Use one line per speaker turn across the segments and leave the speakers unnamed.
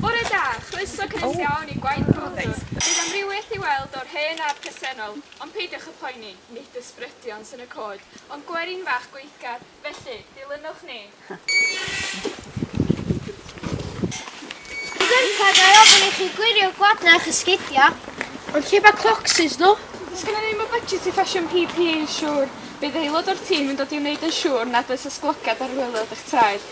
Bore da, chroeso cynnes iawn i Gwaith Clodford. Bydd amrywiaeth i weld o'r hen a'r presennol, ond peidiwch â phoeni, nid ysbrydion sy'n y cod, ond gwerin fach gweithgar, felly, dilynwch ni.
Gynta, ga i ofyn i chi gwirio gwadna a'ch esgidia? Ond lle mae
clocsys nhw? Does gennym ni ddim y budget
i ffasiwn PPE yn siŵr. Bydd aelod o'r tîm yn dod i wneud yn siŵr nad oes ysglogiad ar waelod eich traed.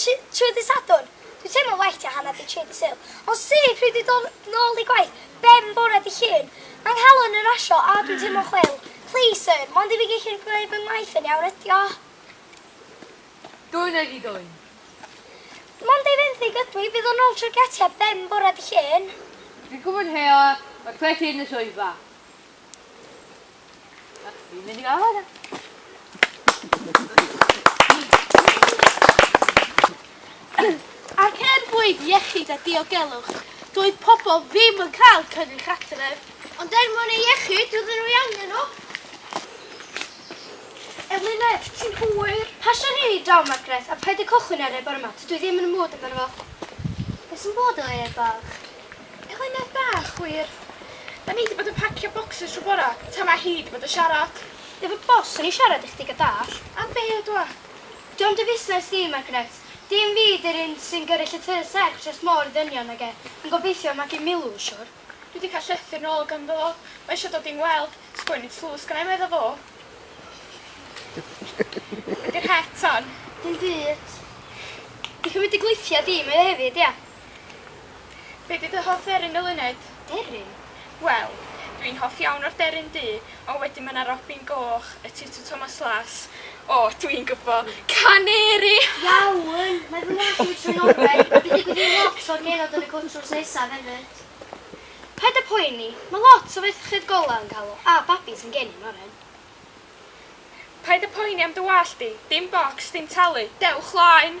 Trwy ddydd Sadwrn, dwi'n teimlo'n well tua hanner 'di tri 'di Sul. Ond syth pryd dwi'n dod nôl i gwaith, ben bore 'di Llun. Mae 'nghalon yn rasio a dwi'n teimlo'n chwil. Please sir, mond i fi gellu gwneud fy ngwaith yn iawn ydi o.
Dwyn a di dwyn.
Mond ei fenthyg ydw i, bydd o nôl trwy'r gatiau ben bore 'di Llun. Dwi'n gwybod heo,
mae cwet hŷn yn y swyddfa. Fi'n mynd i gael hwnna.
Ac er mwyn iechyd a diogelwch, doedd pobl ddim yn cael cynnwys adref. Ond er mwyn ei
iechyd, doedden nhw i angen nhw. Eluned, ti'n hwyr. Pasio'n hyn i draw, Margaret, a paid â cychwyn ar e bore yma, tydw i ddim yn y mood amdano fo. Be sy'n bod efo e, bach? Eluned
bach, wir. Da ni 'di bod yn pacio bocsys trw bora, tan ma' hi 'di bod yn siarad. Efo boss swn
i siarad i chdi ga dallt. Am be o dwa?
Dio'm dy
fusnes di, Margaret. Dim fi 'di'r un sy'n gyrru llythyr serch dros môr i ddynion nag e. Yn gobeithio magu Milw, siwr. Dwi 'di cael llythyr
nôl ganddo. Mae isio dod i'n ngweld. Sgwennu tlws gennai medda fo. Be 'di'r het, ton? Dim byd.
Dipyn byd dy gweithia di mae o hefyd, ia?
Be di dy hoff dderyn eluned? Deryn?
Wel,
dwi'n hoff iawn o'r deryn du, ond wedyn ma' 'na robin goch, y tutw Thomas Las, o, dwi'n gwbo, caneri! Iawn,
mae fy ngwallt i wedi troi oren, a dwi'n digwydd i lot o'r genod yn y cwt drws nesaf hefyd. Paid a poeni, ma' lot o ferched golau yn cael o, a babis yn geni'n oren.
Paid a poeni am dy wallt di, dim bocs, dim talu, dewch 'laen!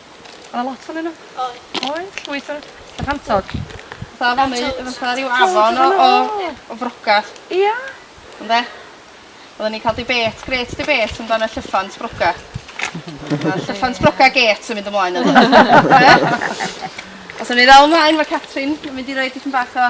O' 'na
lot onyn n'w. Oedd. Oedd llwyth
o n'w.
Cantod. Fatha afon neu yy fatha ryw afon o o o frocad. Ia? Ynde? Odden ni'n ca'l debate grêt debate amdan y llyffant broga. Fatha llyffant broga gêt yn mynd ymlaen ynddo fe. Ia? Os o'n ni ddal mlaen ma' Catrin yn mynd i roi dipyn bach o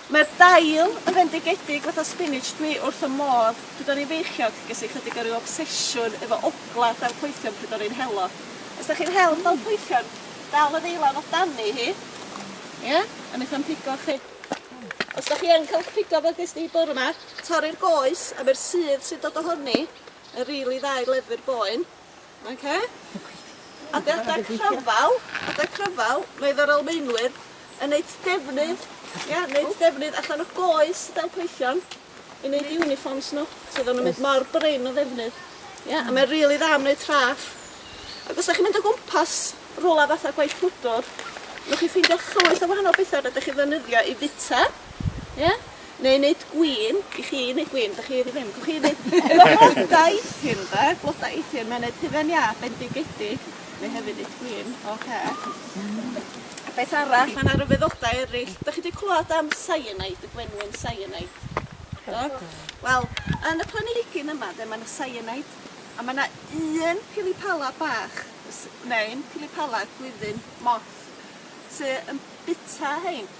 Mae'r dail yn fendigedig fatha spinach dwi wrth y modd pryd o'n i'n feichiog ges i chydig o ryw obsesiwn efo ogla dail poethion pryd o'n i'n helo. Os dach chi'n hel dail poethion dal y ddeilan o dani hi ia a neith o'm pigo chi. Os dach chi yn ca'l eich pigo fel ges di bore ma torri'r goes a ma'r sudd sy'n dod ohoni yn rili dda i leddfu'r boen. Oce? Adega cryfal, adeg cryfal, mae yr Almaenwyr yn neud defnydd, ia, neud defnydd allan o goes y delpreision i neud uniforms nhw, sydd o'n mynd mor brin o ddefnydd. Ia, a mae'n rili dda am wneud traff. Ac os da chi'n mynd o gwmpas rwla fatha gwaith pwdwr, newch chi ffeindio llwyth o wahanol bethau rydych chi ddefnyddio i fita, ia? Neu neud gwin i chi neud gwin dych chi ddim gwch chi neud efo bloda eithin de bloda eithin mae'n neud hufen iâ bendigedig neu hefyd neud gwin oce. A beth arall ma' 'na ryfeddodau eryll dych chi 'di clwad am cyanide y gwenwyn cyanide? Do? Wel yn y planigyn yma de ma' 'na cyanide a ma' 'na un pilipala bach s- neu'n pilipala gwyddyn moth sy yn bita rhein.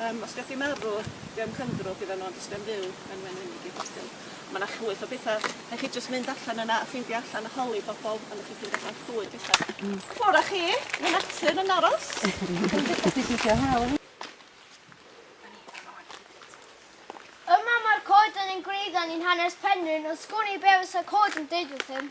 Yym os gewch chi marw dim cyndrwch gyda n'w ond jyst yn fyw yn wenwynig i bosib. Ma' 'na llwyth o betha rhai' chi jyst mynd allan yna a ffeindio allan a holi pobol a newch chi ffindo allan llwyth betha. Hmm. Ffwr a chi ma' natur yn aros.
Yma mae'r coeden yn gwreiddiol yn hanes Penrhyn ond sgwn i be' fysa coed yn deud wrthym.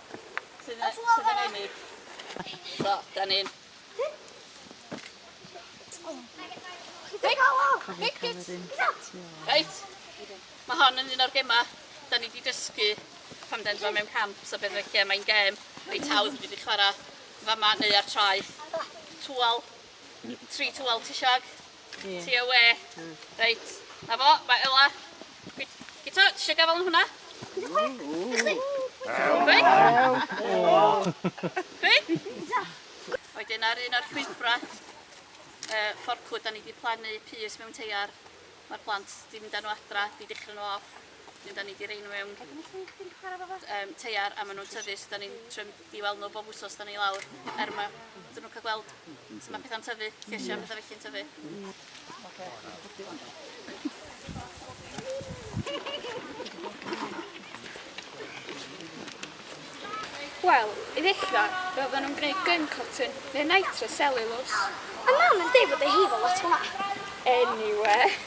Sydd yn, sydd yn ennill. So, da ni'n... Reit, mae hon yn un o'r gemau da ni wedi dysgu pan den fo mewn camp, so beth fe lle mae'n gem reit hawdd wedi chwarae fama neu ar traeth. Twal, tri twal ti siag? Ie. Ti awe. Hmm. Reit. Na fo, mae Ela. Gyd- Gito, ti eisiau gafael yn hwnna? Chwi? Wedyn ar un o'r llwybrau uh, fforcwd, da ni wedi plannu pys mewn teiar. Mae'r plant wedi mynd â nhw adra, wedi dechrau nhw off. Wedyn da ni wedi rhoi nhw mewn um, teiar a maen nhw'n tyfu, so da ni'n trio i weld nhw bob wsos 'da ni lawr er ma' iddyn nhw ca'l gweld sut ma' petha'n tyfu, lleisia a petha felly'n tyfu.
Wel, i ddechra, fe oedden nhw'n gwneud gwin cotton neu nitre cellulose. Mae mam yn
deud bod ei hi efo lot o hwnna. Eniwe!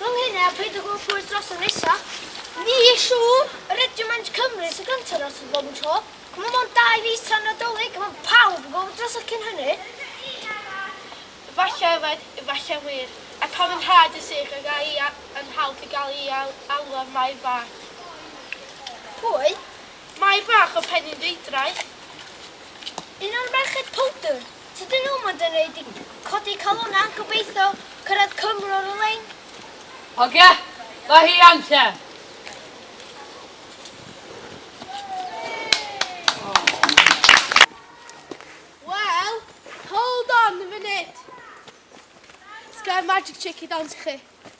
Rhwng hynny a peidio gweld pwy sydd drosodd nesa, ni siŵr yr ydyw maint Cymru sy'n gyntaf drosodd bob yn tro. Mae mond dau fis tra'n Nadolig a mae pawb yn gorfod drosodd cyn hynny. Efallai
yfed, efallai wir. Ac pan fydd nhad yn sych a ga i yn hawdd i gael ei alw ar Mair Fach.
Pwy? Mair
Fach o Penyndreidraeth.
Un o'r merched powdr? Tydyn nhw mond yn rhaid i codi calon a gobeithio cyrraedd Cymru ar y lein.
Hogia, mae hi am lle.
Wel, hold on a minute. Sgen magic trick i dawns i chi.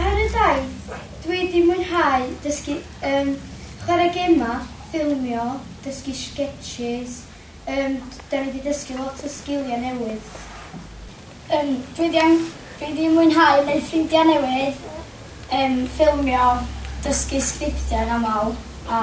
Ar y daith, dwi wedi mwynhau dysgu yym chwarae gemau, ffilmio, dysgu sgetsys, yym dan ni wedi dysgu lot o sgiliau newydd. Yym dwi wedi yym dwi wedi mwynhau wneud ffrindiau newydd, yym ffilmio, dysgu sgriptiau yn aml a